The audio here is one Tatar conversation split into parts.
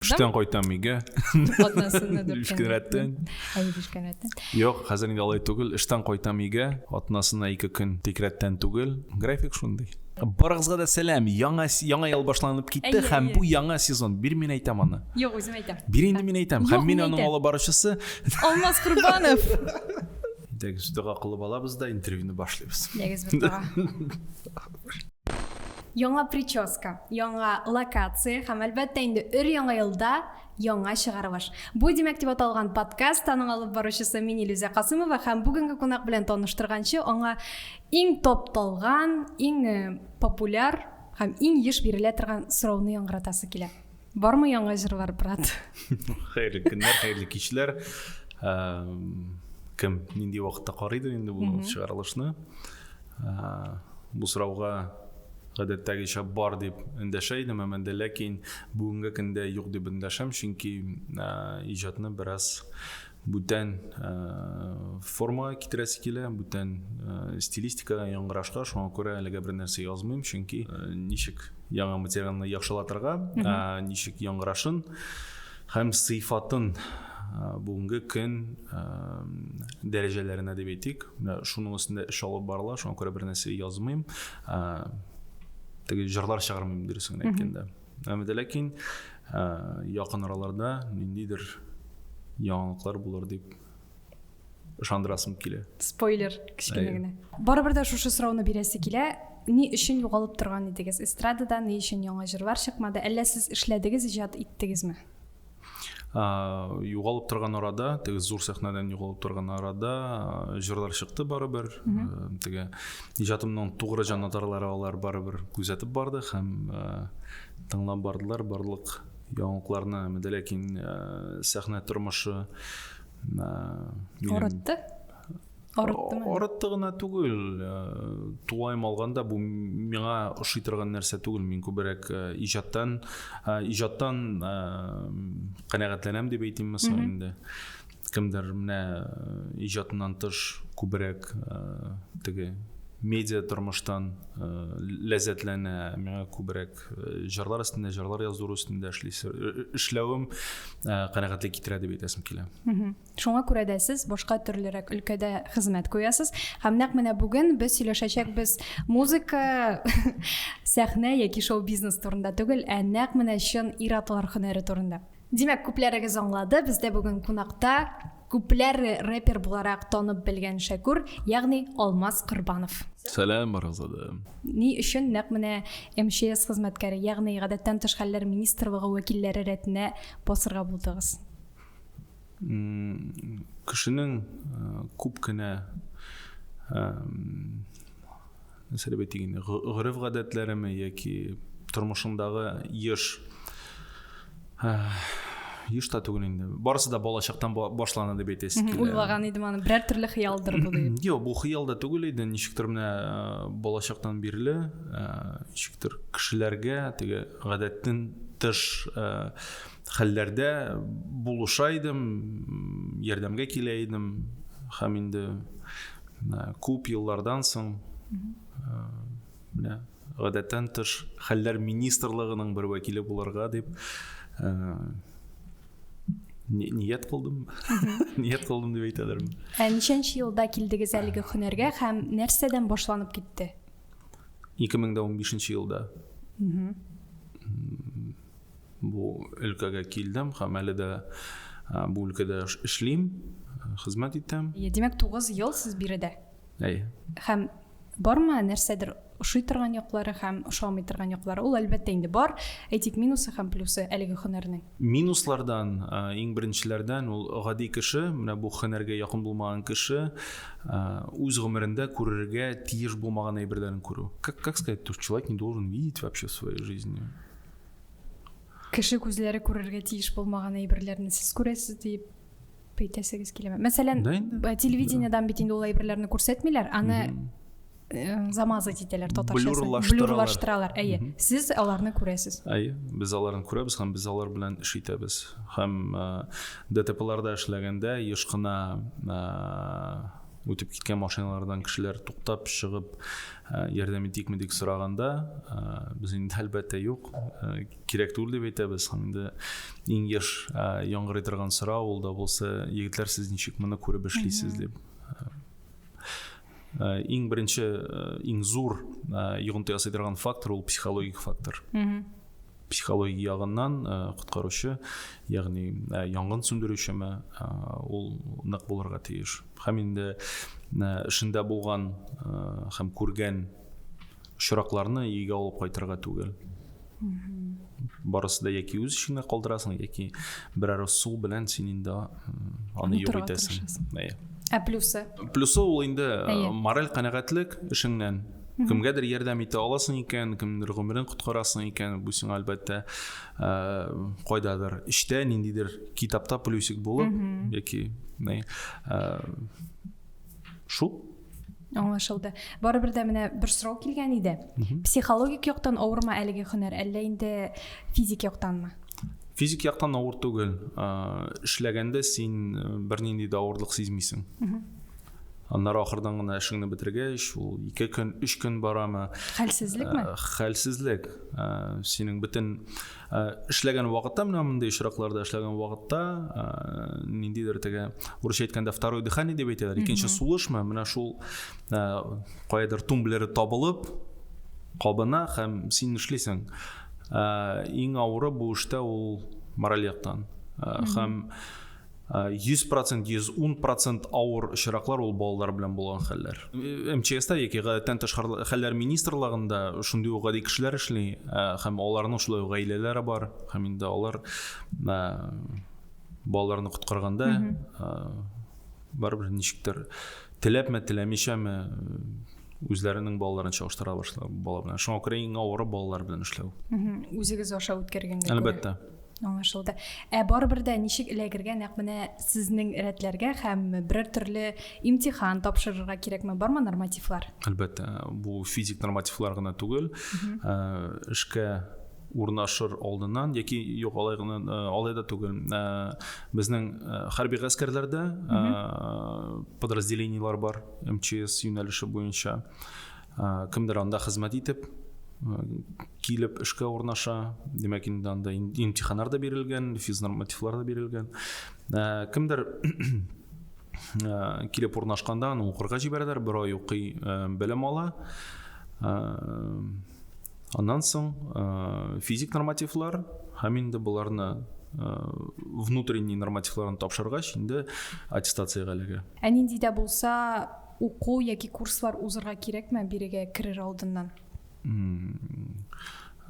Эштән кайтам өйгә. Атнасында дүрт Өч көн рәттән. Әйе, өч көн рәттән. Юк, хәзер инде алай түгел. Эштән кайтам өйгә. Атнасына ике көн тик рәттән түгел. График шундый. Барыгызга да сәлам. Яңа яңа ел башланып китте һәм бу яңа сезон. Бир мин әйтәм аны. Юк, үзем әйтәм. Бир инде мин әйтәм. Һәм мин аның алып баручысы. Алмаз Курбанов. Дәгез дога кылып алабыз да интервьюны башлыйбыз. Дәгез бер дога. Яңа прическа, яңа локация һәм әлбәттә инде өр-яңа елда яңа чыгарылыш. Бу димәк дип аталган подкаст аның алып баручысы мин Илюзә Касымова һәм бүгенге кунак белән таныштырганчы аңа иң топталган, иң э, популяр һәм иң еш бирелә торган сорауны яңгыратасы килә. Бармы яңа җырлар, брат? Хәерле көннәр, хәерле кичләр. Кем нинди вакытта карыйдыр инде бу чыгарылышны? Бу сорауга гадәттәгечә бар дип эндәшә идем, әмма дә ләкин бүгенге көндә юк дип эндәшәм, чөнки иҗатны бераз Бүтән э, формага китерәсе килә, бүтән э, стилистикага яңгырашка, шуңа күрә әлегә бер нәрсә язмыйм, чөнки э, ничек яңа материалны яхшылатырга, ә, ничек яңгырашын һәм сыйфатын бүгенге көн дәрәҗәләренә дип әйтик шуның өстендә эш алып барыла шуңа күрә бер нәрсә язмыйм теге жырлар чыгармыйм дөресен әйткәндә Әмма дә ләкин якын араларда ниндидер яңалыклар булыр дип ышандырасым килә. Спойлер, кечкенә генә. Барыбер дә шушы сорауны бирәсе килә. Ни өчен югалып торган идегез? Эстрадада ни өчен яңа җырлар чыкмады? Әллә сез эшләдегез, иҗат иттегезме? югалып торган арада теге зур сәхнәдән югалып торган арада җырлар чыкты барыбер теге иҗатымның тугры җанатарлары алар барыбер күзәтеп барды һәм тыңлап бардылар барлык яңалыкларны әмәде ләкин сәхнә тормышы минем... Арыттымы? Арытты гына түгел. Э, тулаем алганда бу миңа ошый торган нәрсә түгел. Мин күбрәк э, иҗаттан э, иҗаттан канәгатьләнәм дип әйтимме соң инде. Кемдер менә иҗатыннан тыш күбрәк теге медиа тормыштан ләззәтләнә миңа күбрәк җырлар өстендә җырлар язу өстендә эшләвем канәгатьлек китерә дип әйтәсем килә Шуңа күрә дә сез башка төрлерәк өлкәдә хезмәт куясыз. Һәм нәкъ менә бүген без сөйләшәчәкбез музыка, сәхнә яки шоу-бизнес турында түгел, ә нәкъ менә чын ир-атлар һөнәре турында. Димәк, күпләрегез аңлады, бездә бүген кунакта күпләр рэпер буларак танып белгән Шәкүр, ягъни Алмаз Корбанов. Сәлам, барыгызга да. Ни өчен нәкъ менә МЧС хезмәткәре, ягъни гадәттән тыш хәлләр министрлыгы вәкилләре рәтенә басырга булдыгыз? кешенең күп кенә нәрсә дип әйтик инде гореф гадәтләреме яки тормышындагы еш еш та түгел инде барысы да балачактан башлана дип әйтәсе килә уйлаган идем аны берәр төрле хыялдыр бу дип юк бу хыял да түгел иде ничектер менә балачактан бирле ничектер кешеләргә теге гадәттән тыш хәлләрдә булыша идем, ярдәмгә килә идем һәм инде күп еллардан соң менә гадәттән тыш хәлләр министрлыгының бер вәкиле булырга дип ният кылдым ният кылдым дип әйтәләрме ә ничәнче елда килдегез әлеге һөнәргә һәм нәрсәдән башланып китте 2015 елда Бу өлкәгә килдем һәм әле дә бу өлкәдә эшлим, хезмәт итәм. Димәк, 9 ел сез биредә. Әйе. Һәм бармы нәрсәдер ошый торган яклары һәм ошамый торган яклары? Ул әлбәттә инде бар. Әйтик, минусы һәм плюсы әлеге һөнәрнең. Минуслардан иң беренчеләрдән ул гади кеше, менә бу һөнәргә якын булмаган кеше үз гомерендә күрергә тиеш булмаган әйберләрен күрү. Как как сказать, то человек не должен видеть вообще в своей жизни? Кеше күзләре күрергә тиеш булмаган әйберләрне сез күрәсез дип әйтәсегез киләме? Мәсәлән, да телевидениедән бит инде ул әйберләрне күрсәтмиләр, аны э, замазать итәләр татарчасы. Блюрлаштыралар. Әйе. Сез аларны күрәсез. Әйе, без аларны күрәбез һәм без алар белән эш итәбез. Һәм э, ДТПларда эшләгәндә еш кына э, үтеп киткән машиналардан кешеләр туктап чыгып э, ярдәм итикме дип сораганда э, без инде әлбәттә юк э, кирәк түгел дип әйтәбез һәм инде иң еш яңгырый торган сорау ул да булса егетләр сез ничек моны күреп эшлисез дип иң беренче иң зур йогынты ясый торган фактор ул психологик фактор психология ягыннан э, коткаручы ягъни э, янгын сүндерүчеме э, ул нык булырга тиеш һәм инде эшендә булган һәм күргән очракларны өйгә алып кайтырга түгел барысы да яки үз эшеңә калдырасың яки берәр су белән син инде аны юк итәсең ә плюсы плюсы ул инде мораль канәгатьлек эшеңнән Кемгәдер ярдәм итә аласың икән, кемнер гомерен коткарасың икән, бу сиңа әлбәттә э, кайдадыр эштә ниндидер китапта плюсик булып яки э, шул аңлашылды барыбер дә менә бер сорау килгән иде психологик яктан авырмы әлеге һөнәр әллә инде физик яктанмы физик яктан авыр түгел э, эшләгәндә син бернинди дә авырлык сизмисең Аннары ахырдан гына эшеңне бетергәч, ул ике көн, өч көн барамы? Хәлсезлекме? Э, хәлсезлек. Э, синең бөтен э, эшләгән вакытта, менә мондый очракларда эшләгән вакытта, ниндидер теге урысча әйткәндә второе дыхание дип әйтәләр, икенче сулышмы? Менә шул каядыр тумблеры табылып кабына һәм син эшлисең. Иң авыры бу эштә ул мораль яктан. Һәм 100 процент, 110 процент авыр очраклар ул балалар белән булган хәлләр. МЧСта яки гадәттән тыш хәлләр министрлыгында шундый ук гади кешеләр эшли һәм аларның шулай ук гаиләләре бар һәм инде алар балаларны коткарганда барыбер ничектер теләпме теләмичәме үзләренең балаларын чагыштыра башлар бала белән шуңа күрә иң авыры балалар белән эшләү үзегез аша үткәргәнгә әлбәттә Аңлашылды. Ә барыбер дә ничек эләгергә, нәкъ менә сезнең рәтләргә һәм берәр төрле имтихан тапшырырга кирәкме? Бармы нормативлар? Әлбәттә, бу физик нормативлар гына түгел. Ә, эшкә урнашыр алдыннан яки юк алай гына э, алай да түгел э, безнең э, хәрби гаскәрләрдә подразделениелар бар мчс юнәлеше буенча кемдер анда хезмәт итеп килеп эшкә урнаша димәк инде анда имтиханнар да бирелгән физнормативлар да бирелгән кемдер килеп урнашканда аны укырга җибәрәләр бер ай укый белем ала аннан соң физик нормативлар һәм инде боларны внутренний нормативларын тапшыргач инде аттестациягә эләгә ә нинди дә булса Уку яки курслар узырга кирәкме бирегә керер алдыннан?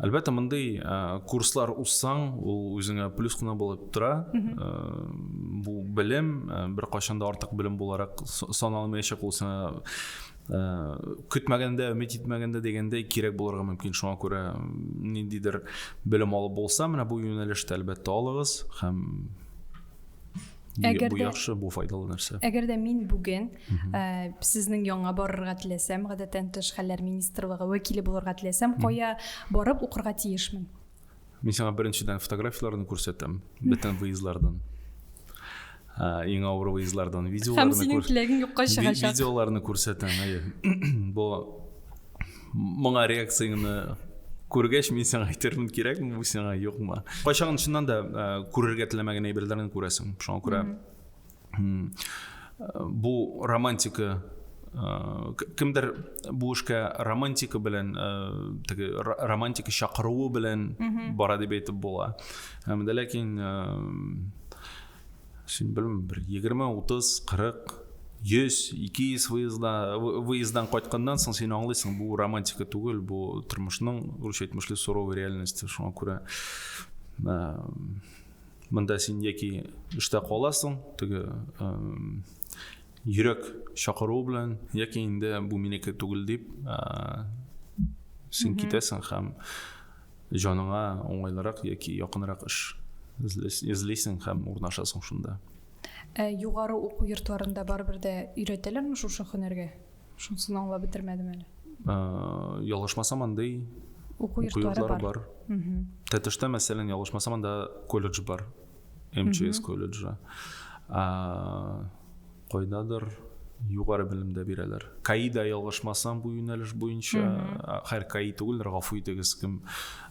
Әлбәттә, мондый курслар узсаң, ул үзеңә плюс кына булып тора. Бу белем бер кайчанда артык белем буларак саналмаячак ул сиңа көтмәгәндә, өмет итмәгәндә дигәндәй кирәк булырга мөмкин. Шуңа күрә ниндидер белем алып булса, менә бу юнәлештә әлбәттә алыгыз һәм Әгәр бу яхшы, бу файдалы нәрсә. Әгәр дә мин бүген э, сезнең яңа барырга теләсәм, гадәттән тыш хәлләр министрлыгы вәкиле булырга теләсәм, кая барып укырга тиешмен? Мин сиңа беренчедән фотографияләрне күрсәтәм, бөтен выездлардан. Э, иң авыр выездлардан видеоларны күрсәтәм. Һәм синең теләгең юкка чыгачак. Видеоларны күрсәтәм, әйе. Бу моңа реакцияңне күргәч мин сиңа әйтермен кирәкме бу сиңа юкмы кайчагын чыннан да э, күрергә теләмәгән әйберләрне күрәсең шуңа күрә бу романтика э, кемдер бу эшкә романтика белән э, теге романтика чакыруы белән бара дип әйтеп була һәм ләкин Син белмим, бер 20, 30, 40, 100, 200 выезда, выездан кайтканнан соң син аңлыйсың, бу романтика түгел, бу тормышның рус әйтмешле суровый реальности. Шуңа күрә ә, монда син яки эштә каласың, теге ә, йөрәк чакыруы белән, яки инде бу минеке түгел дип, ә, син китәсең һәм Җаныңа уңайлырак яки якынрак эш эзлисең һәм урнашасың шунда. Ә югары уку йортларында барыбер дә өйрәтәләрме шушы һөнәргә? Шунысын аңлап бетермәдем әле. Ялгышмасам, андый уку йортлары бар. Тәтештә, мәсәлән, ялгышмасам, анда колледж бар. МЧС колледжы. Кайдадыр югары белемдә бирәләр. Каида ялгышмасам бу юнәлеш буенча, хәр каи түгелдер, гафу итегез, кем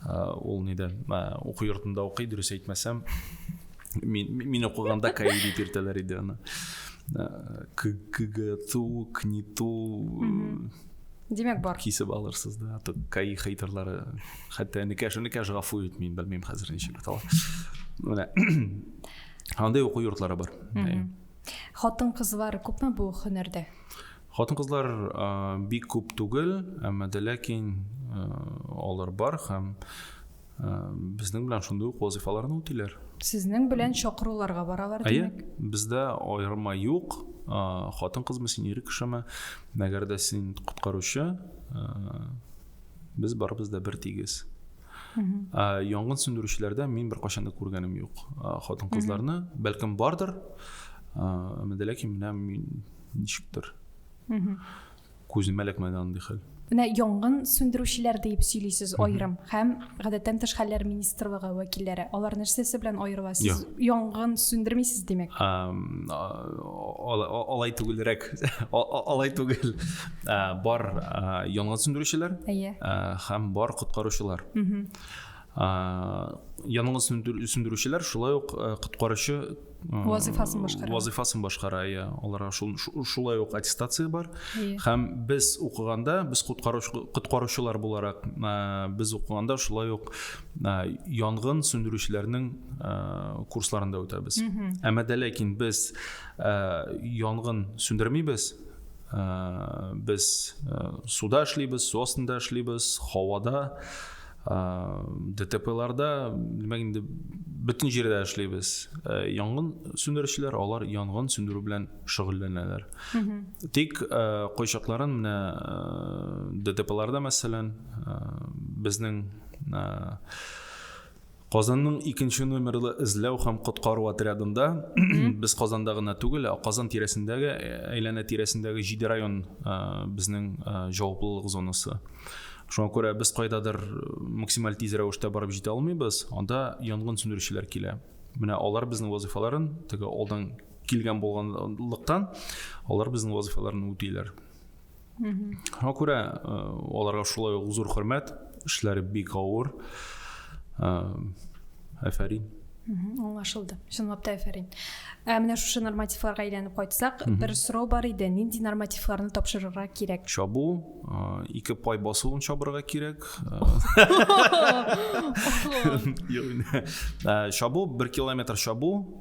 ул нидә уку йортында укый, дөрес әйтмәсәм, мин мин укыганда каи дип йөртәләр иде аны. КГТУ, КНИТУ Димәк бар. Кисеп алырсыз да, каи хейтерлары. Хәтта энекәш, энекәш гафу ит, мин белмим хәзер ничек бит алар. Менә. Андый уку йортлары бар. Хатын-кызлар күпме бу һөнәрдә? Хатын-кызлар бик күп түгел, әмма дә ләкин алар бар һәм безнең белән шундый ук вазифаларны үтиләр. Сезнең белән чакыруларга баралар димәк? Әйе, бездә аерма юк. Хатын-кызмы син, ир кешеме? Мәгәр дә син коткаручы, без барыбыз да бер тигез. ә, янгын сүндерүчеләрдә мин беркайчан да күргәнем юк хатын кызларны бәлкем бардыр ә, ләкин менә мин ничектер күземә эләкмәде андый хәл менә янгын сүндерүчеләр дип сөйлисез аерым һәм гадәттән тыш хәлләр министрлыгы вәкилләре алар нәрсәсе белән аерыла сез янгын сүндермисез димәк алай түгелрәк алай түгел Ә, бар ә, янгын сүндерүчеләр Әйе. ә, һәм бар коткаручылар. Ә, янгын сүндер- сүндерүчеләр шулай ук ә, коткаручы ә, Вазыйфасын башкара. Вазыйфасын башкара, иә. Аларга шул- шу- шулай ук аттестация бар. Әйе. Һәм без укыганда, без коткаруч- коткаручылар буларак, ә, без укыганда шулай ук ә, янгын сүндерүчеләрнең ә, курсларын да үтәбез. Әмма дә ләкин без ә, янгын сүндермибез, ә, без ә, суда эшлибез су астында эшлибез һавада ә, дтпларда димәк инде бөтен җирдә эшлибез ә, янгын сүндерүчеләр алар янгын сүндерү белән шөгыльләнәләр тик ә, кайчакларын менә ә, дтпларда мәсәлән ә, безнең ә, Казанның икенче номерлы эзләү һәм коткару отрядында без Казанда гына түгел, ә Казан тирәсендәге, э, әйләнә тирәсендәге җиде район э, безнең э, җаваплылык зонасы. Шуңа күрә без кайдадыр максималь тиз рәвештә барып җитә алмыйбыз, анда янгын сүндерүчеләр килә. Менә алар безнең вазифаларын теге алдан килгән булганлыктан, алар безнең вазифаларын үтиләр. шуңа күрә э, аларга шулай ук зур хөрмәт эшләре бик авыр әфәрин аңлашылды чынлап та әфәрин ә менә шушы нормативларга әйләнеп кайтсак бер сорау бар иде нинди нормативларны тапшырырга кирәк чабу ике пай басуын чабырга кирәк чабу бер километр чабу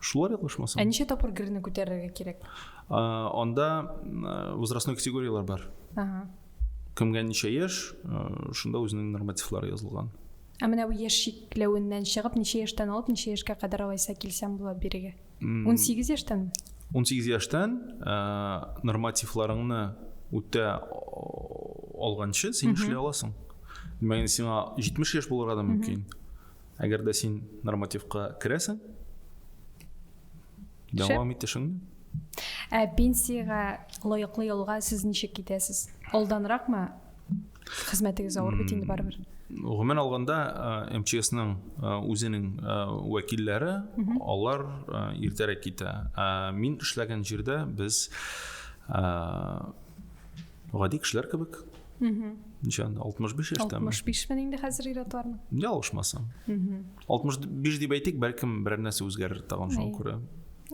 шулар язмышмасам. Ә ничә тапкыр герне күтәрергә кирәк? Анда возрастной категорияләр бар. Ага. Кемгә ничә яшь, шунда үзенең нормативлары язылган. Ә менә бу яшь чикләвеннән чыгып, ничә яшьтән алып, ничә яшькә кадәр алайса килсәм була бирегә? 18 яшьтән? 18 яшьтән нормативларыңны үтә алганчы син эшли аласың. Мәгән сиңа 70 яшь булырга да мөмкин. Әгәр дә син нормативка керәсең, дәвам ит эшеңне. Ә пенсиягә лаеклы ялга сез ничек китәсез? Алданракмы? Хезмәтегез авыр бит инде барыбер. Гомумән алганда МЧСның үзенең вәкилләре, алар иртәрәк китә. Мин эшләгән җирдә без Гади кешеләр кебек. Ничә? 65 яшьтәме? 65 мен инде хәзер ир-атларның. Ялгышмасам. 65 дип әйтик, бәлкем берәр нәрсә үзгәрер тагын шуңа күрә.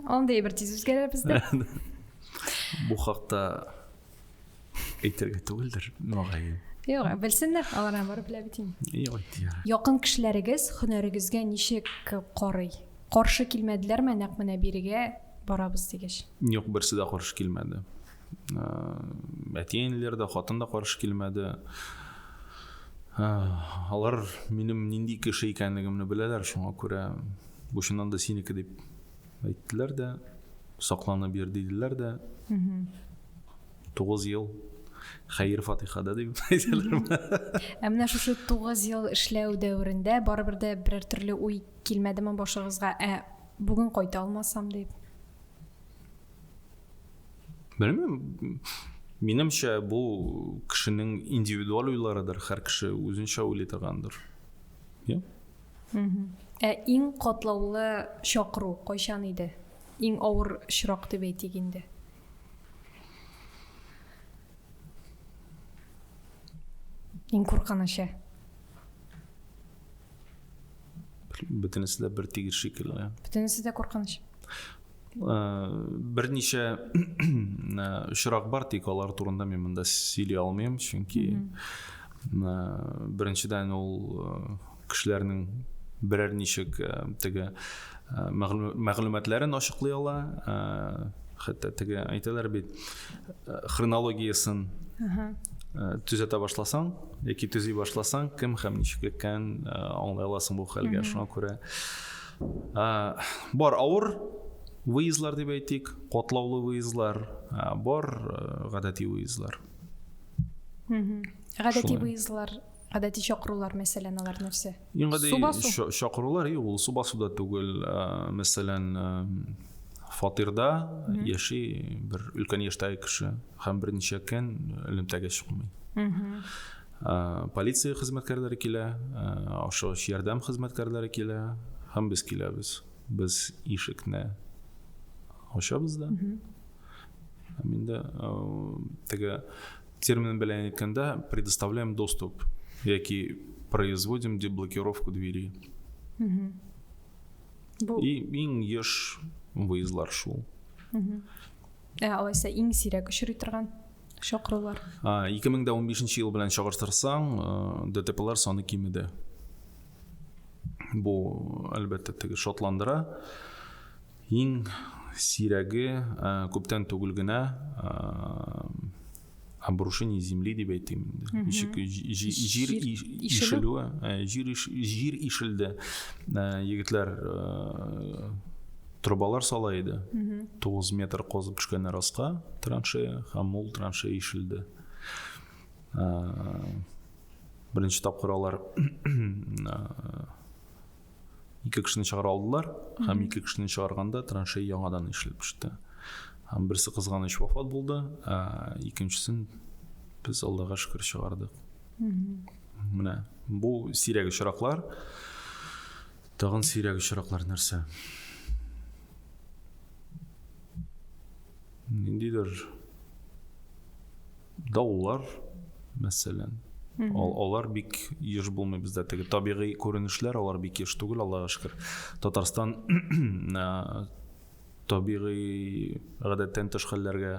Андый бер тиз үзгәрә бездә. Бу хакта әйтергә түгелдер, мөгаен. Юк, белсеннәр, алар барып белә бит инде. Юк, әйтә. Якын кешеләрегез һөнәрегезгә ничек карый? Каршы килмәделәрме нәкъ менә бирегә барабыз дигәч? Юк, берсе дә каршы килмәде. әти әниләр дә хатын да каршы килмәде алар минем нинди кеше икәнлегемне беләләр шуңа күрә бу чыннан да синеке дип әйттеләр дә сакланып йөр диделәр дә тугыз ел хәер фатихада дип әйтәләр ә менә шушы тугыз ел эшләү дәверендә барыбер дә берәр төрле уй килмәдеме башыгызга ә бүген кайта алмасам дип белмим минемчә бу кешенең индивидуаль уйларыдыр һәр кеше үзенчә уйлый торгандыр иә ә иң катлаулы чакыру кайчан иде иң авыр очрак дип әйтик инде иң куркынычы бөтенесе дә бер тигез шикелле бөтенесе дә куркыныч берничә очрак бар тик алар турында мин монда сөйли алмыйм чөнки беренчедән ул кешеләрнең берәр ничек теге мәгълүматларын ачыклый ала хәтта теге әйтәләр бит хронологиясын төзәтә башласаң яки төзи башласаң кем һәм ничек икән аңлай аласың бу хәлгә шуңа күрә Ә, бар авыр выездлар дип әйтик, котлаулы выездлар, ә, бар ә, гадәти выездлар. Гадәти выездлар гадәти чакырулар мәсәлән алар нәрсә иң гади чакырулар и ул су басуда түгел мәсәлән фатирда яши бер өлкән яшьтәге кеше һәм берничә көн элемтәгә чыкмый Полиция хезмәткәрләре килә, ашыгыч ярдәм хезмәткәрләре килә һәм без киләбез. Без ишекне ачабыз да. Һәм инде теге термин белән әйткәндә предоставляем доступ яки производим деблокировку двери. И иң еш выездлар шул. Ә алайса иң сирәк очрый торган чакырулар? 2015 ел белән чагыштырсаң, э, ДТПлар саны кимеде. Бу әлбәттә теге шатландыра. Иң сирәге э, күптән түгел генә э, обрушение земли дип әйтим инде ничек җир ишелүе ә, җир җир ишелде ә, егетләр ә, трубалар сала иде тугыз метр козып төшкәннәр аска траншея һәм ул траншея ишелде беренче тапкыр алар ике кешене чыгара алдылар һәм ике кешене чыгарганда траншея яңадан эшләп төште һәм берсе кызганыч вафат булды ә икенчесен без аллага шөкер чыгардык менә бу сирәк очраклар тагын сирәк очраклар нәрсә ниндидер Даулар, мәсәлән. Ал, алар бик еш булмый бездә. Теге табигый күренешләр алар бик еш түгел, Аллага шөкер. Татарстан табигый гадәттән тыш хәлләргә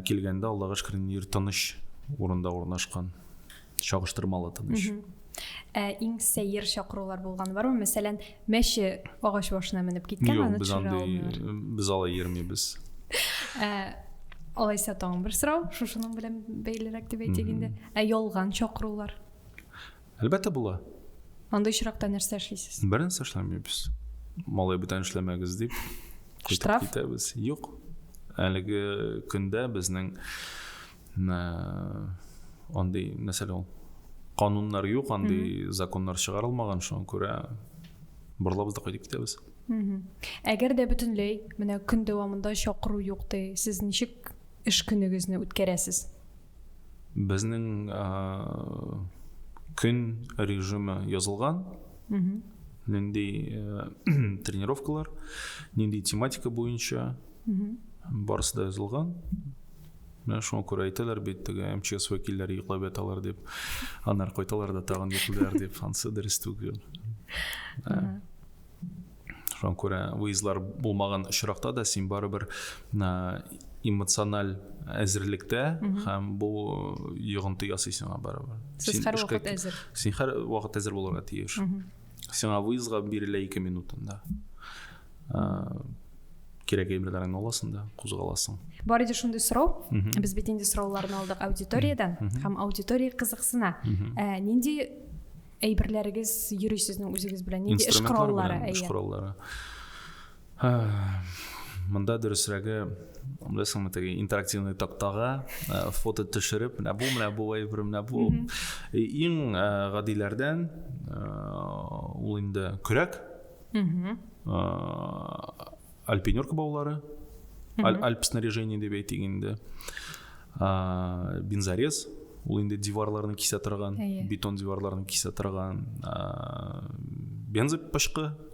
килгәндә, Аллага шөкер, нир тыныч урында урнашкан. чагыштырмалы тыныч ә иң сәер чакырулар булган бармы мәсәлән мәче агач башына менеп киткән аны без андый без алай йөрмибез ә, алайса тагын бер сорау шушының белән бәйлерәк дип әйтик инде ә ялган чакырулар әлбәттә була андый очракта нәрсә эшлисез бернәрсә эшләмибез малай бүтән эшләмәгез дип штраф китәбез юк әлеге көндә безнең Андый, мәсәлән, ул кануннар юк, андый законнар чыгарылмаган, шуңа күрә барлабыз да кайтып китәбез. Әгәр дә бөтенләй менә көн дәвамында чакыру юк ди, сез ничек эш көнегезне үткәрәсез? Безнең көн режимы язылган. Нинди тренировкалар, нинди тематика буенча, барысы да язылган. Менә шуңа күрә әйтәләр бит, теге МЧС вәкилләре йоклап яталар дип, аннары кайталар да тагын йоклыйлар дип, ансы дөрес түгел. Шуңа күрә выездлар булмаган очракта да син барыбер эмоциональ әзерлектә һәм бу йогынты ясыйсың барыбер. Сез һәрвакыт әзер. Син һәрвакыт әзер булырга тиеш. сиңа выездга бирелә ике минутында кирәк әйберләреңне аласың да кузгаласың бар иде шундый сорау без бит инде сорауларны алдык аудиториядән һәм аудитория кызыксына ә, нинди әйберләрегез йөри сезнең үзегез белән нинди эш кораллары эш кораллары Монда дөресрәге, беләсеңме, теге интерактивный тактага э, фото төшереп, менә бу, менә бу әйбер, менә бу. Иң э, гадиләрдән э, ул инде көрәк. Альпинерка баулары. Альп снаряжение дип әйтик инде. Бензорез ул инде диварларны кисә торган, бетон диварларны кисә торган. Бензопышкы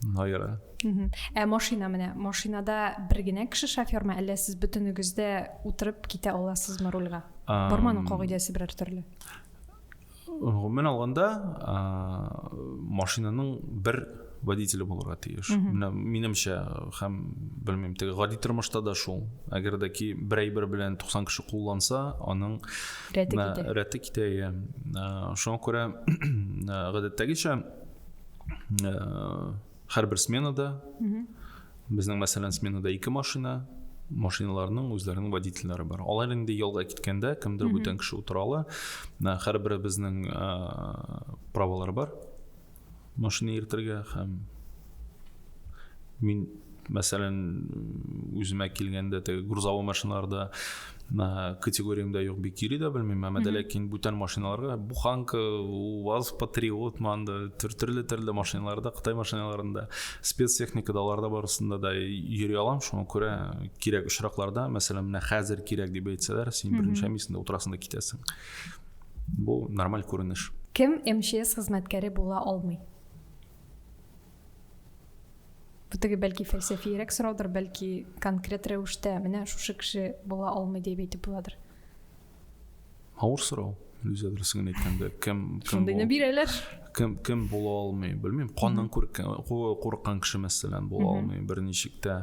Наира. Ә машина менә, машинада бер генә кеше шофермы, әллә сез бөтенегез дә утырып китә аласызмы рульга? Барманың кагыйдәсе берәр төрле. Гомумән алганда, машинаның бер водителе булырга тиеш. Менә минемчә, һәм белмим, теге гади тормышта да шул. Әгәр дә ки бер әйбер белән 90 кеше кулланса, аның рәте китә. Рәте китә. Шуңа күрә гадәттәгечә ә, һәрбер сменада безнең мәсәлән сменада ике машина машиналарның үзләренең водительләре бар алар инде ялга киткәндә кемдер бүтән кеше утыра ала һәрберебезнең ә, правалары бар машина йөртергә һәм Мин, мәсәлән, үземә килгәндә теге грузовой машиналарда категориямдә юк бик йөри дә белмим әмма дә ләкин бүтән машиналарга буханка ваз патриот манда төрле төрле машиналарда кытай машиналарында спецтехникада аларда барысында да йөри алам шуңа күрә кирәк очракларда мәсәлән менә хәзер кирәк дип әйтсәләр син берничә мисында утырасың да китәсең бу нормаль күренеш кем мчс хезмәткәре була алмый Бу теге бәлки фәлсәфиерәк сораудыр, бәлки конкрет рәвештә менә шушы кеше була алмый дип әйтеп буладыр. Авыр сорау. Үзе дөресен әйткәндә, кем кем Шундыйны бирәләр. Кем кем була алмый, белмим. Каннан күркән, курыккан кеше мәсәлән була алмый, берничек тә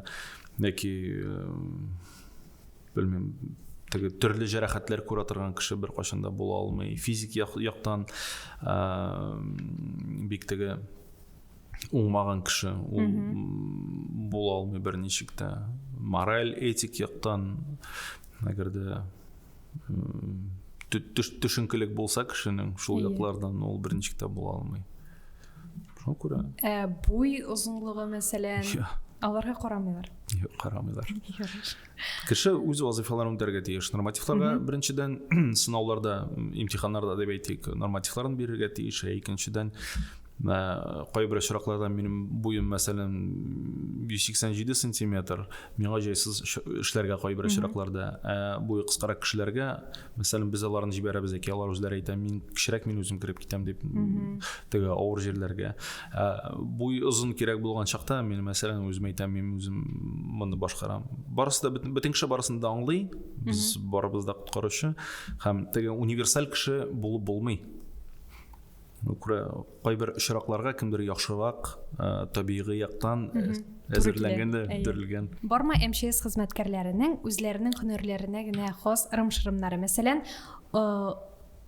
яки белмим, теге төрле җәрәхәтләр күрә торган кеше бер кашында була алмый. Физик яктан бик теге уңмаган кеше ул була алмый берничек тә мораль этик яктан әгәр дә төшенкелек булса кешенең шул яклардан ул берничек тә була алмый шуңа күрә ә буй озынлыгы мәсәлән аларга карамыйлар юк карамыйлар кеше үз вазыйфаларын үтәргә тиеш нормативларга беренчедән сынауларда имтиханнарда дип әйтик нормативларын бирергә тиеш ә икенчедән Ә, кайбер очракларда минем буем, мәсәлән, 187 сантиметр, миңа җайсыз эшләргә кайбер очракларда. Ә буе кыскарак кешеләргә, мәсәлән, без аларны җибәрәбез, яки алар үзләре әйтә, мин кечерәк, мин үзем кереп китәм дип, теге авыр җирләргә. Ә буй озын кирәк булган чакта, мин, мәсәлән, үзем әйтәм, мин үзем моны башкарам. Барысы да бөтен кеше барысын да аңлый, без барыбыз да коткаручы һәм теге универсаль кеше булып булмый. күрә кайбер очракларга кемдер яхшырак табигый яктан әзерләнгән дә бетерелгән бармы мчс хезмәткәрләренең үзләренең һөнәрләренә генә хас ырым шырымнары мәсәлән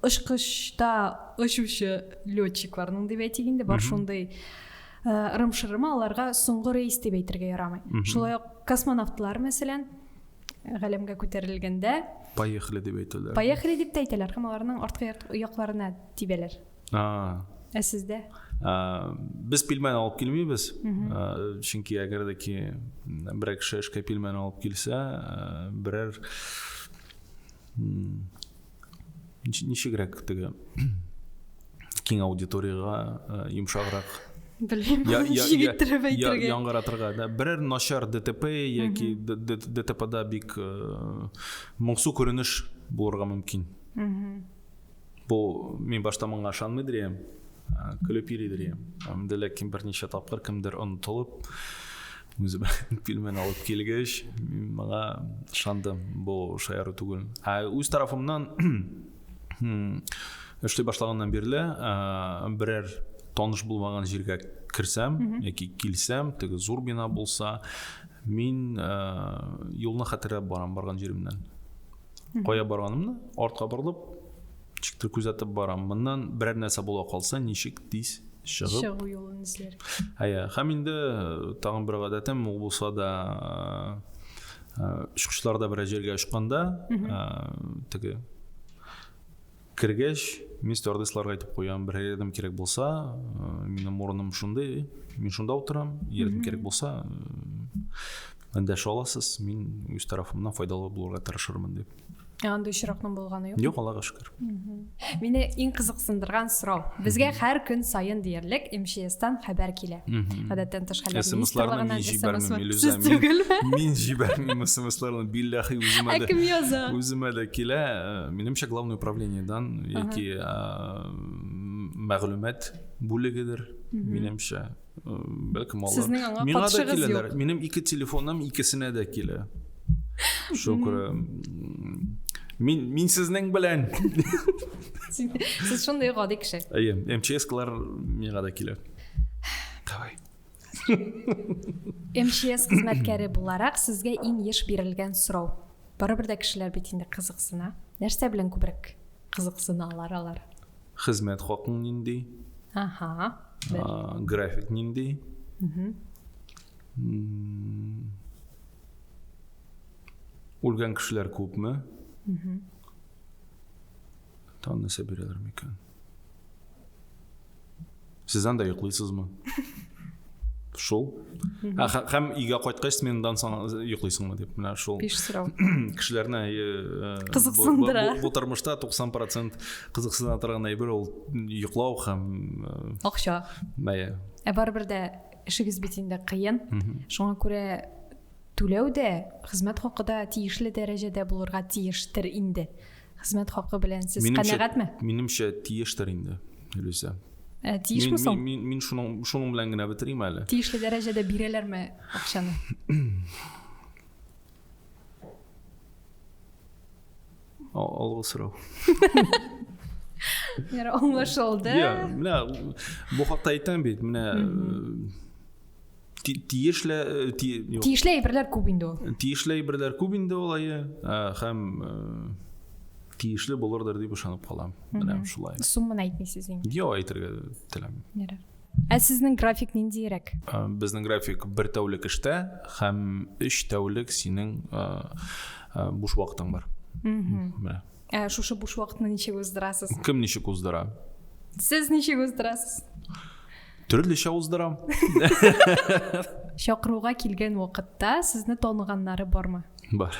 очкычта очучы летчикларның дип әйтик инде бар шундый ырым шырымы аларга соңгы рейс дип әйтергә ярамый шулай ук космонавтлар мәсәлән галәмгә күтәрелгәндә поехали дип әйтәләр поехали дип тә әйтәләр һәм аларның арткы якларына тибәләр ә сездә без пилмән алып килмибез чөнки әгәр дә ки берәр кеше эшкә пилмән алып килсә берәр ничегрәк теге киң аудиторияга йомшаграк белмим җигеттереп әйтергә яңгыратырга да берәр начар дтп яки дтпда бик моңсу күренеш булырга мөмкин Бу мин башта моңа ышанмый дирем, көлеп йөри дирем. Әмдә ләкин берничә тапкыр кемдер онытылып, үзе белән пилмен алып килгәч, мин моңа ышандым. Бу шаяру түгел. Ә үз тарафымнан эшли башлаганнан бирле берәр таныш булмаган җиргә керсәм яки килсәм, теге зур бина булса, мин юлны хәтерләп барам барган җиремнән. Кая барганымны артка борылып, ничектер күзәтеп барам. Моннан берәр нәрсә була калса, ничек тиз чыгып чыгу юлын эзләр. Әйе, һәм инде э, тагын бер гадәтем ул булса да э, э, очкычларда берәр җиргә очканда, теге Кергәч, мин стюардессларга әйтеп куям, бер рядом кирәк булса, э, минем урыным шундый, мин шунда утырам, ярдәм кирәк булса, э, дәшә аласыз, мин үз тарафымнан файдалы булырга тырышырмын дип. Ә андый очракның булганы юк? Юк, Аллага шөкер. Мине иң кызыксындырган сорау. Безгә һәр көн сайын диярлек МЧСтан хәбәр килә. Гадәттән тыш хәлләр министрлыгыннан мин җибәрмим, Илюза. Мин җибәрмим СМСларны, билләхи үземә дә. Ә кем яза? Үземә дә килә. Э, Минемчә главное управлениедан яки мәгълүмат бүлегедер, минемчә. Бәлкем алар. Сезнең аңа катышыгыз юк. Минем ике телефоным икесенә дә килә. Шөкер. Мин мин сезнең белән. Сез шундый гади кеше. Әйе, МЧС-калар миңа да килә. Давай. МЧС хезмәткәре буларак сезгә иң еш бирелгән сорау. Барыбер дә кешеләр бит инде кызыксына. Нәрсә белән күбрәк кызыксыналар алар? Хезмәт хакың нинди? Ага. График нинди? Үлгән кешеләр күпме? Тан нәрсә бирәләр микән? Сез анда йоклыйсызмы? Шул. Ә һәм өйгә кайткач сменадан соң йоклыйсыңмы дип менә шул. Биш сорау. Кешеләрне э, э, кызыксындыра. Бу тормышта 90% кызыксына торган әйбер ул йоклау һәм э, акча. Бәя. Ә барыбер дә эшегез бит инде кыен. Шуңа күрә түләү дә хезмәт хакы да тиешле дәрәҗәдә булырга тиештер инде. хезмәт хакы белән сез канәгатьме минемчә тиештер инде люся ә, тиешме соң мин, мин, мин шуның, шуның белән генә бетерим әле тиешле дәрәҗәдә бирәләрме акчаны алгы сорау Яра аңлашылды. Менә бу хакта әйтәм бит, менә тиешле тиешле әйберләр күп инде ул тиешле әйберләр күп инде ул әйе һәм тиешле булырдыр дип ышанып калам менә шулай сумманы әйтмисез инде юк әйтергә теләмим Ә сезнең график ниндиерәк? Безнең график бер тәүлек эштә һәм өч тәүлек синең буш вакытың бар. Ә шушы буш вакытны ничек уздырасыз? Кем ничек уздыра? Сез ничек уздырасыз? төрлечә уздырам чакыруга килгән вакытта сезне таныганнары бармы бар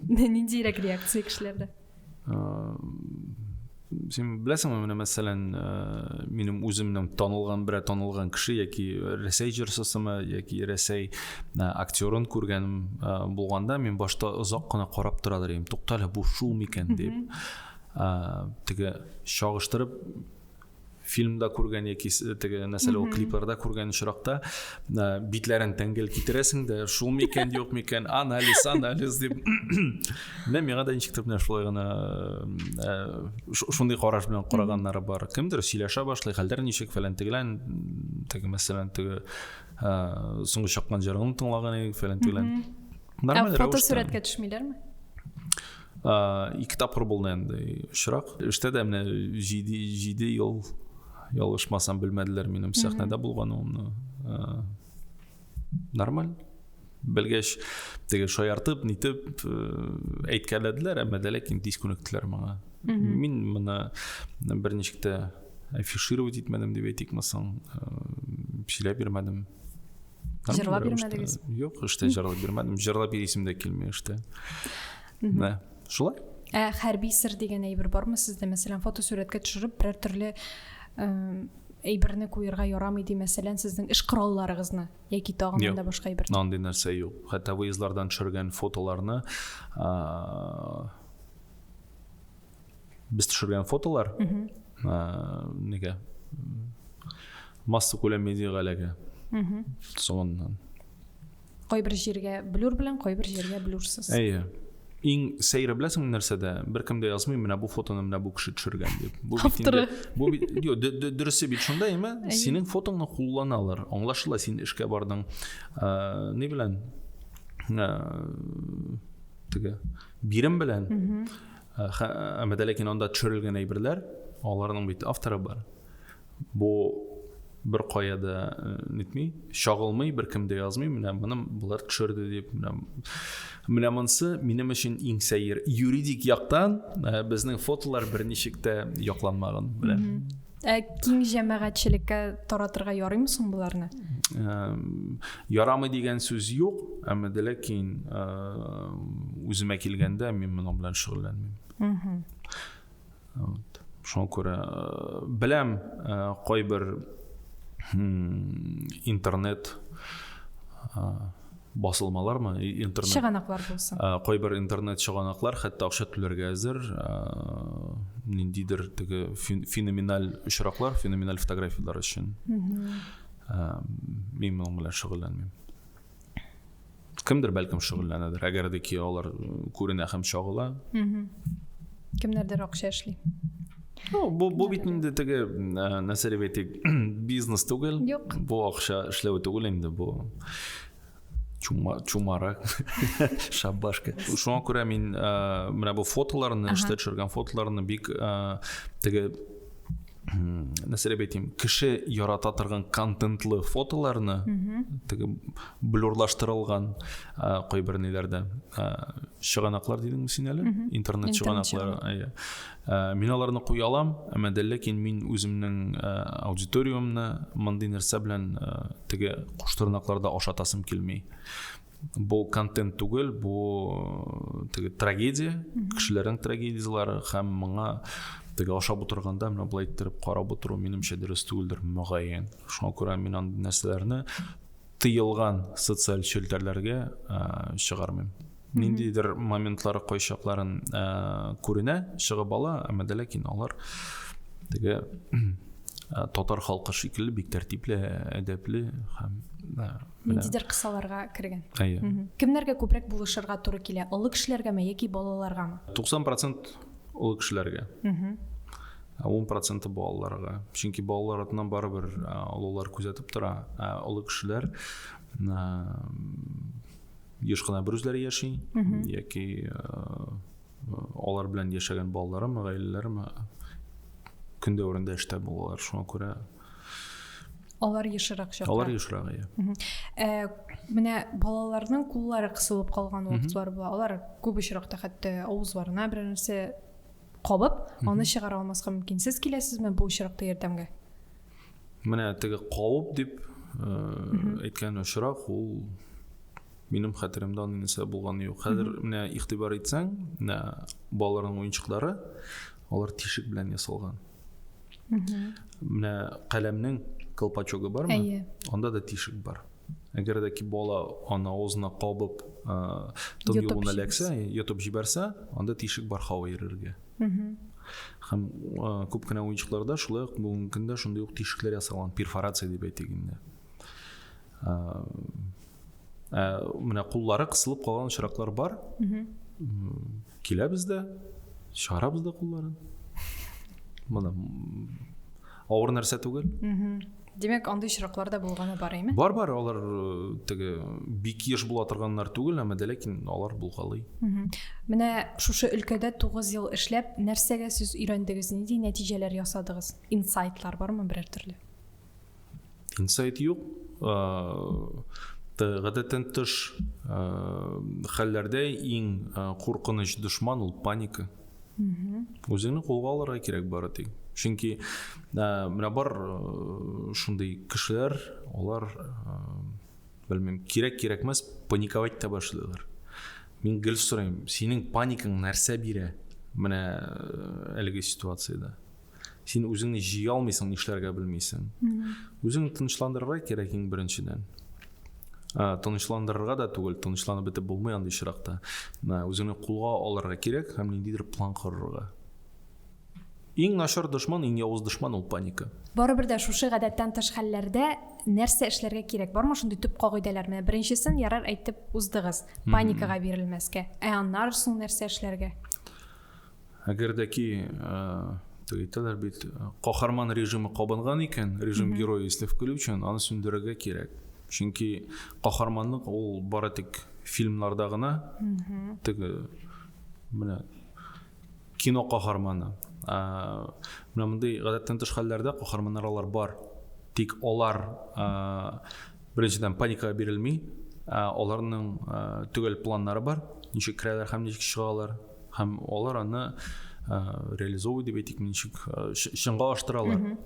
ниндирәк реакция кешеләрдә сен беләсеңме менә мәсәлән минем үземнең танылган берә танылган кеше яки рәсәй җырчысымы яки рәсәй актерын күргәнем булганда мин башта озак кына карап тора идем туктале бу шул микән дип теге чагыштырып фильмда күргән яки теге нәрсәле ул клипларда күргән очракта битләрен тәңгел китерәсең дә шул микән юк микән анализ анализ дип менә миңа да ничектер менә шулай гына шундый караш белән караганнары бар кемдер сөйләшә башлый хәлдәр ничек фәлән тегелән теге мәсәлән теге соңгы чыккан җырын тыңлаган идек фәлән тегелән нормаль рәвештә фотосурәткә төшмиләрме ике тапкыр булды инде очрак эштә дә менә җиде җиде ел ялгышмасам белмәделәр минем сәхнәдә булганымны нормаль белгәч теге шаяртып нитеп әйткәләделәр әмма дә ләкин тиз күнектеләр моңа мин моны бер ничек тә афишировать итмәдем дип әйтикме соң сөйләп бирмәдем Җырлап бирмәдегез? Юк, эштә җырлап бирмәдем. Җырлап бирисем дә килми эштә. Мә, шулай. Ә хәрби сер дигән әйбер бармы сездә? Мәсәлән, фотосурәткә төшереп, берәр төрле әйберне куярга ярамый ди, мәсәлән, сезнең эш коралларыгызны яки тагын да башка әйбер. Юк, андый нәрсә юк. Хәтта выездлардан төшергән фотоларны без төшергән фотолар неге масса күләм медиага эләгә соңыннан кайбер җиргә блюр белән кайбер җиргә блюрсыз әйе иң сәйре беләсең нәрсәдә беркем дә язмый менә бу фотоны менә бу кеше төшергән дип бу авторы бу дөресе бит шунда әйме синең фотоңны кулланалар аңлашыла син эшкә бардың ни белән теге бирем белән Әмәдә ләкин анда төшерелгән әйберләр, аларның бит авторы бар. Бу бер кая да э, нитми, чагылмый, бер кем дә язмый, менә моны болар төшерде дип, менә менә монсы минем өчен иң сәер. Юридик яктан э, безнең фотолар берничек тә якланмаган белән. Ә киң җәмәгатьчелеккә таратырга ярыймы соң боларны? Ярамый дигән сүз юк, әмма дә ләкин үземә килгәндә мин моның белән шөгыльләнмим. Вот. Шуңа күрә беләм кайбер интернет басылмалармы интернет чыганаклар булсын э, кайбер интернет чыганаклар хәтта акча түләргә әзер э, ниндидер теге феноменаль очраклар феноменаль фотографиялар өчен э, мин моның белән шөгыльләнмим кемдер бәлкем шөгыльләнәдер әгәр дә ки алар күренә һәм чагыла кемнәрдер акча эшли Ну, бу, бу бит инде теге нәрсәләр бит бизнес түгел. Юк. Бу акча эшләү түгел инде бу. Чума, чумарак, шабашка. Шуңа күрә мин ә, менә бу фотоларны, эштә төшергән фотоларны бик ә, теге нәрсә дип әйтим, кеше ярата торган контентлы фотоларны теге блюрлаштырылган кайбер ниләрдә чыганаклар дидеңме син әле? Интернет чыганаклары, Ә, мин аларны куя алам, әмма дә ләкин мин үземнең ә, аудиториямне мондый нәрсә белән ә, теге куштырнакларда ашатасым килми. Бу контент түгел, бу э, теге трагедия, кешеләрнең трагедияләре һәм моңа теге ашап утырганда менә болай иттереп карап утыру минемчә дөрес түгелдер мөгаен. Шуңа күрә мин андый нәрсәләрне тыелган социаль челтәрләргә ә, чыгармыйм. ниндидер моментлары кайчакларын ә, күренә чыгып ала әмма дә ләкин алар теге ә, татар халкы шикелле бик тәртипле әдәпле һәм ә, ниндидер кысаларга кергән әйе кемнәргә күбрәк булышырга туры килә олы кешеләргәме яки балаларгамы 90 процент олы кешеләргә ә он проценты балаларга чөнки балалар атынан барыбер ә, олылар күзәтеп тора ә олы кешеләр еш кына бер үзләре яши яки алар белән яшәгән балаларым гаиләләрем көн дәверендә эштә булалар шуңа күрә алар ешрак чакта алар ешрак иә э, менә балаларның куллары кысылып калган вакытлар була алар күп очракта хәтта авызларына берәр нәрсә кабып аны чыгара алмаска мөмкин сез киләсезме бу очракта ярдәмгә менә теге кауып дип әйткән очрак ул минем хәтеремдә аны нәрсә булганы юк хәзер менә игътибар итсәң менә балаларның уенчыклары алар тишек белән ясалган менә каләмнең колпачогы бармы әйе анда да тишек бар әгәр дә ки бала аны авызына кабып тын юлын эләксә йотып җибәрсә анда тишек бар һава йөрергә һәм күп кенә уенчыкларда шулай ук бүгенге көндә шундый ук тишекләр ясалган перфорация дип әйтик инде ә менә куллары кысылып калган очраклар бар киләбез дә чыгарабыз да кулларын мына авыр нәрсә түгел Димәк, андый очраклар да булганы бар, әйме? Бар, бар, алар э, теге бик еш була торганнар түгел, әмма дә ләкин алар булгалый. Менә шушы өлкәдә 9 ел эшләп, нәрсәгә сез өйрәндегез, нинди нәтиҗәләр ясадыгыз? Инсайтлар бармы берәр төрле? Инсайт юк. Э, гадәттән тыш э, хәлләрдә иң куркыныч дошман ул паника. Үзеңне кулга алырга кирәк бары тик. Чөнки менә бар шундый кешеләр, алар белмим, кирәк-кирәкмәс паниковать та башлыйлар. Мин гел сорыйм, синең паникаң нәрсә бирә? Менә әлеге ситуациядә. син үзеңне җыя алмыйсың нишләргә белмисең үзеңне тынычландырырга кирәк иң беренчедән тынычландырырга да түгел тынычланып бетеп булмый андый очракта үзеңне кулга алырга кирәк һәм ниндидер план корырга Иң начар дошман, иң явыз дошман ул паника. Барыбер дә шушы гадәттән тыш хәлләрдә нәрсә эшләргә кирәк? Бармы шундый төп кагыйдәләр? Менә беренчесен ярар әйтеп уздыгыз, паникага бирелмәскә. Ә аннары соң нәрсә эшләргә? Әгәр дә ки, әйтәләр бит, каһарман режимы кабынган икән, режим герое исле включен, аны сүндерергә кирәк. Чөнки каһарманлык ул бары тик фильмнарда гына, теге менә кино каһарманы. Ә менә мондый гадәттән тыш хәлләрдә каһарманнар алар бар. Тик алар беренчедән паникага бирелми, аларның төгәл планнары бар, ничек керәләр һәм ничек чыгалар, һәм алар аны реализовывать дип әйтик ничек чынга аштыралар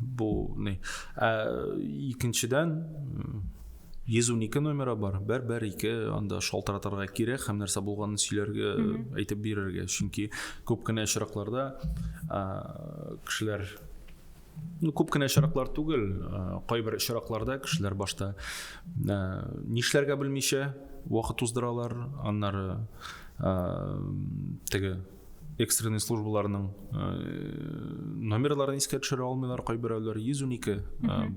бу ни ә икенчедән йөз унике номеры бар бер бер ике анда шалтыратырга кирәк һәм нәрсә булганын сөйләргә әйтеп бирергә чөнки күп кенә очракларда кешеләр Ну, күп кенә очраклар түгел, кайбер очракларда кешеләр башта нишләргә белмичә вакыт уздыралар, аннары теге экстренный службаларның номерларын искә төшерә алмыйлар, кайберәүләр 112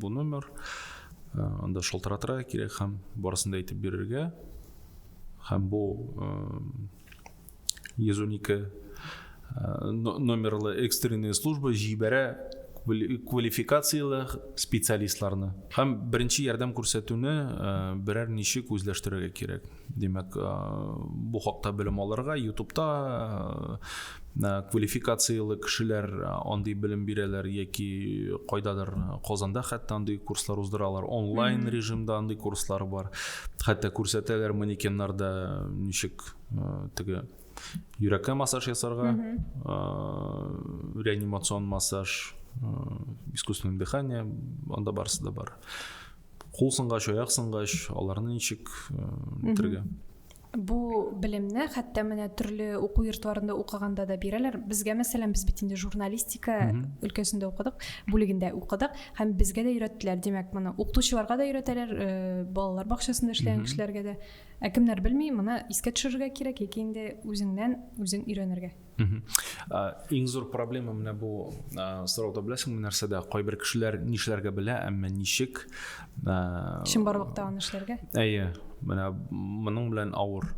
бу номер. Анда шалтыратырга кирәк һәм барысын да әйтеп бирергә. Һәм бу 112 э, номерлы экстренная служба җибәрә квалификацияле специалистларны һәм беренче ярдәм күрсәтүне э, берәр ничек үзләштерергә кирәк димәк э, бу хакта белем алырга ютубта Э, квалификацияле кешеләр э, андый белем бирәләр яки кайдадыр э, казанда хәтта андый курслар уздыралар онлайн режимда андый курслар бар хәтта күрсәтәләр манекеннарда ничек теге йөрәккә массаж ясарга реанимацион массаж искусственное дыхание анда барысы да бар кул сынгач аяк сынгач аларны ничек итәргә Бу белемне хәтта менә төрле уку йортларында укыганда да бирәләр. Безгә мәсәлән, без бит инде журналистика өлкәсендә укыдык, бүлегендә укыдык һәм безгә дә өйрәттеләр. Димәк, моны укытучыларга да өйрәтәләр, э, балалар бакчасында эшләгән кешеләргә дә. Ә кемнәр белми, моны искә төшерергә кирәк яки инде үзеңнән үзең өйрәнергә. Иң зур проблема менә бу сорауда беләсеңме нәрсәдә? Кайбер кешеләр нишләргә белә, әмма ничек? Чынбарлыкта аны эшләргә? Әйе, менә моның белән авыр.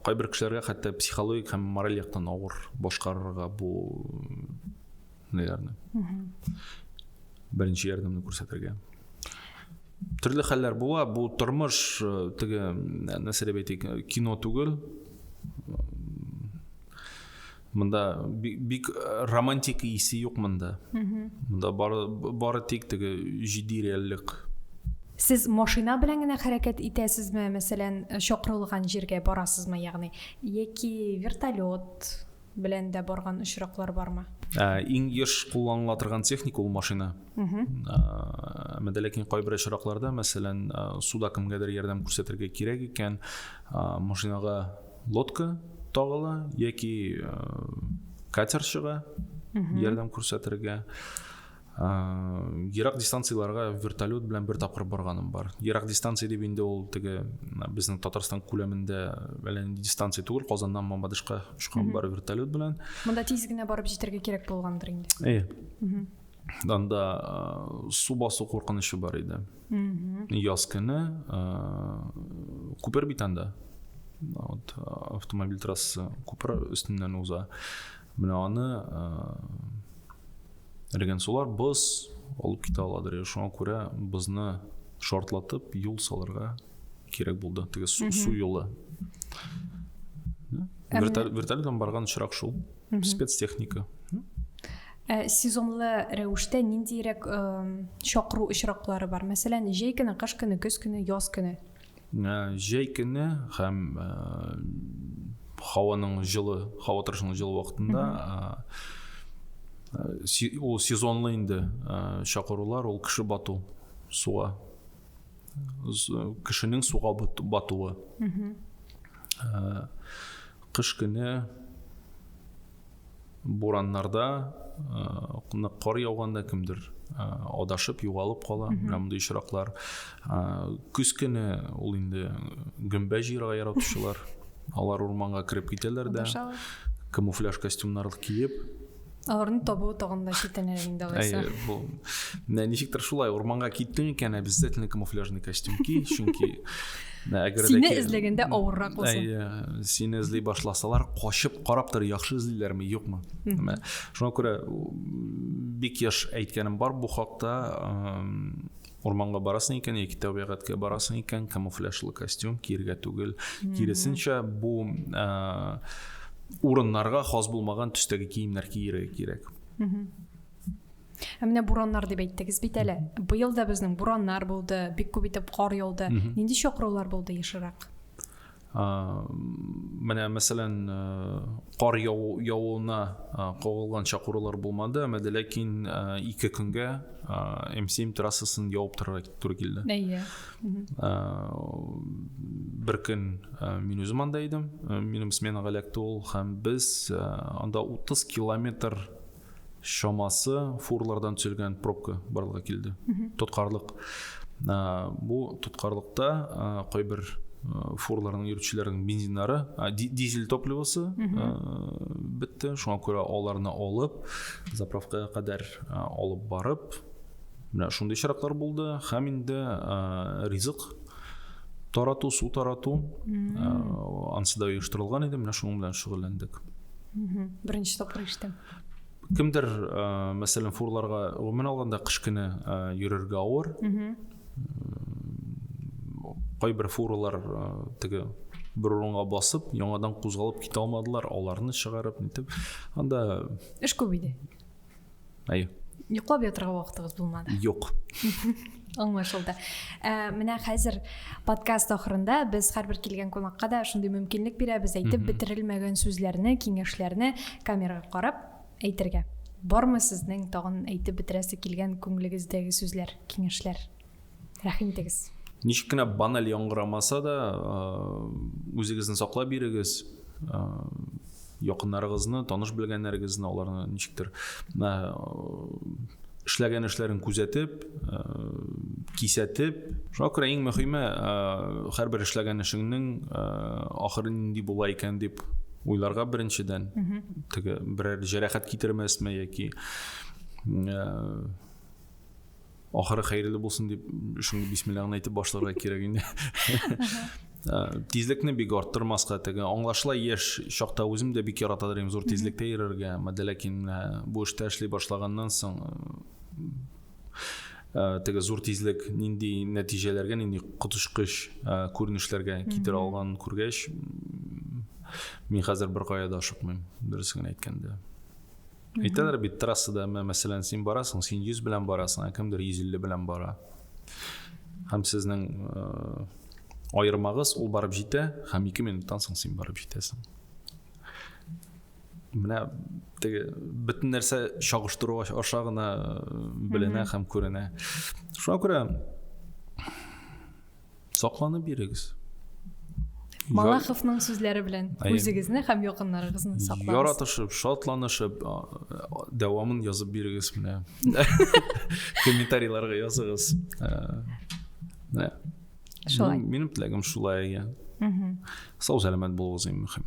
Кайбер кешеләргә хәтта психологик һәм мораль яктан авыр башкарырга бу наверное беренче ярдәмне күрсәтергә төрле хәлләр була бу тормыш э, теге э, нәрсә дип әйтик э, кино түгел мында бик романтик исе юк мында мында бары, бары тик теге җитди реальлек сез машина белән генә хәрәкәт итәсезме мәсәлән чакырылган җиргә барасызмы ягъни яки вертолет белән дә барган очраклар бармы? Ә, иң еш кулланыла торган техника ул машина. Әмма дә ләкин кайбер очракларда, мәсәлән, суда кемгәдер ярдәм күрсәтергә кирәк икән, машинага лодка тагыла яки катер чыга ярдәм күрсәтергә. ерак дистанцияларга вертолет белән бер тапкыр барганым бар ерак дистанция дип инде ул теге безнең татарстан күләмендә әллә нинди дистанция түгел казаннан мамадышка очкан бар вертолет белән монда тиз генә барып җитәргә кирәк булгандыр инде э анда су басу куркынычы бар иде яз көне күпер бит анда вот автомобиль трассасы күпер өстеннән уза Менә аны Реген сулар боз алып китә аладыр. Шуңа күрә бозны шартлатып юл салырга кирәк булды. Теге су, су юлы. Вертолетом барган очрак шул. Спецтехника. Ә сезонлы рәвештә ниндирәк чакыру очраклары бар? Мәсәлән, җәй көне, кыш көне, көз көне, яз көне. Җәй көне һәм һаваның җылы, һава торышының җылы вакытында ул сезонлы инде чакырулар, ул кеше бату суга. Кешенең суга батуы. Кыш көне Бураннарда, нык э, кар яуганда кемдер э, адашып, югалып кала. Менә мондый очраклар. Э, көз көне ул инде гөмбә җыерга яратучылар. Алар урманга кереп китәләр дә. Камуфляж костюмнар киеп, аларны табу тагын да читенер инде алайса әйе бу ничектер шулай урманга киттең икән обязательно камуфляжный костюм ки чөнки сине эзләгәндә авыррак булсын э, сине эзли башласалар качып карап тор яхшы эзлиләрме юкмы шуңа күрә бик яш әйткәнем бар бу хакта урманга барасың икән яки табигатькә барасың икән камуфляжлы костюм киергә түгел киресенчә бу э, урыннарга хас булмаган төстәге киемнәр киерергә кирәк Ә менә бураннар дип әйттегез бит әле. Быел да безнең бураннар булды, бик күп итеп кар яуды. Нинди чакырулар булды ешрак? менә мәсәлән кар явуына кагылган чакырулар булмады әмәде ләкин ике көнгә м семь трассасын явып торырга туры килде әйе бер көн мин үзем анда идем минем сменага эләкте ул һәм без анда утыз километр чамасы фурлардан төзелгән пробка барлыкка килде. Тоткарлык. Бу тоткарлыкта кайбер фурларның йөртүчеләренең бензиннары, дизель топливосы бетте. Шуңа күрә аларны алып, заправкага кадәр алып барып, менә шундый чираклар булды. Һәм инде ризык тарату, су тарату ансы да оештырылган иде. Менә шуның белән шөгыльләндек. беренче тапкыр ишетәм кемдер ә, мәсәлән фурларга гомумән алганда кыш көне ә, йөрергә авыр кайбер фуралар ә, теге бер урынга басып яңадан кузгалып китә алмадылар аларны чыгарып нитеп анда эш күп иде әйе йоклап ятырга вакытыгыз булмады юк аңлашылды ә, менә хәзер подкаст ахырында без һәрбер килгән кунакка да шундый мөмкинлек бирәбез әйтеп бетерелмәгән сүзләрне киңәшләрне камерага карап әйтергә бармы сезнең тагын әйтеп бетерәсе килгән күңелегездәге сүзләр киңәшләр рәхим итегез ничек кенә баналь яңгырамаса да үзегезне саклап бирегез якыннарыгызны таныш белгәннәрегезне аларны ничектер эшләгән эшләрен күзәтеп э, кисәтеп шуңа күрә иң мөһиме э, һәрбер эшләгән эшеңнең э, ахыры нинди була икән дип уйларга беренчедән теге берәр җәрәхәт китермәсме яки ахыры хәерле булсын дип шундый бисмилләңне әйтеп башларга кирәк инде ә, тизлекне бик арттырмаска теге аңлашыла яшь чакта үзем дә бик ярата идем зур тизлектә йөрергә әмма ләкин ә, бу эштә эшли башлаганнан соң ә, теге зур тизлек нинди нәтиҗәләргә нинди коточкыч күренешләргә китерә алган күргәч мин хәзер беркая да ашыкмыйм дөресен әйткәндә Әйтәләр бит трассада, мәсәлән, син барасың, син 100 белән барасың, ә кемдер 150 белән бара. Һәм сезнең э, аермагыз ул барып җитә, һәм 2 минуттан соң син барып җитәсең. Менә теге бөтен нәрсә чагыштыру аша гына э, беленә һәм күренә. Шуңа күрә Сакланып йөрегез. Малаховның сүзләре белән үзегезне һәм якыннарыгызны саклаңыз. Яратышып, шатланышып, дәвамын язып бирегез менә. Комментарийларга языгыз. Менә. Шулай. Минем теләгем шулай. Сау сәламәт булыгыз иң мөһим.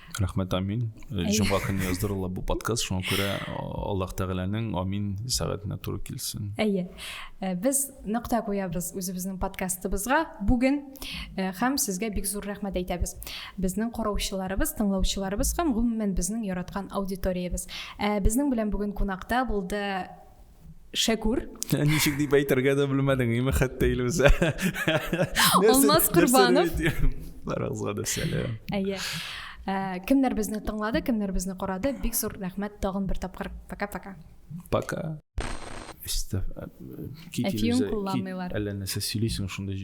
рәхмәт амин э, җомга көне яздырыла бу подкаст шуңа күрә аллаһ тәгаләнең амин сәгатенә туры килсен әйе э, без нокта куябыз үзебезнең подкастыбызга бүген э, һәм сезгә бик зур рәхмәт әйтәбез безнең караучыларыбыз тыңлаучыларыбыз һәм гомумән безнең яраткан аудиториябез безнең белән бүген кунакта булды Шәкүр. Ничек дип әйтергә дә белмәдең, име хәтта илүзә. Алмаз Корбанов. Барыгызга да сәлам. Әйе. Ә, кемнәр безне тыңлады, кемнәр безне карады, бик зур рәхмәт тагын бер тапкыр. Пока-пока. Пока. Өстә. Әтиең кулланмыйлар. Әллә нәрсә сөйлисең шунда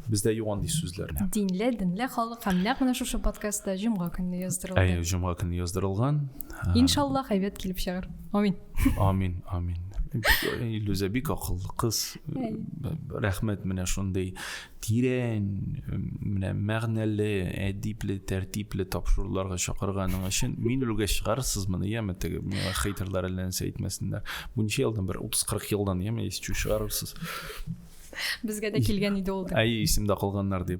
бездә юк андый сүзләрне. Динле, динле халык һәм нәкъ менә шушы подкастта җомга көнне яздырылган. Әйе, җомга көнне яздырылган. Иншаллах, әйбәт килеп чыгар. Амин. Амин, амин. Илүзә бик акыллы кыз. Рәхмәт менә шундый тирән, менә мәгънәле, әдипле, тәртипле тапшыруларга чакырганың өчен. Мин үлгәч чыгарырсыз моны, яме теге миңа хейтерлар әллә нәрсә әйтмәсеннәр. Бу ничә елдан бер 30-40 елдан яме исчу чыгарырсыз. Безгә дә килгән иде ул. Әй, исемдә калганнар дип.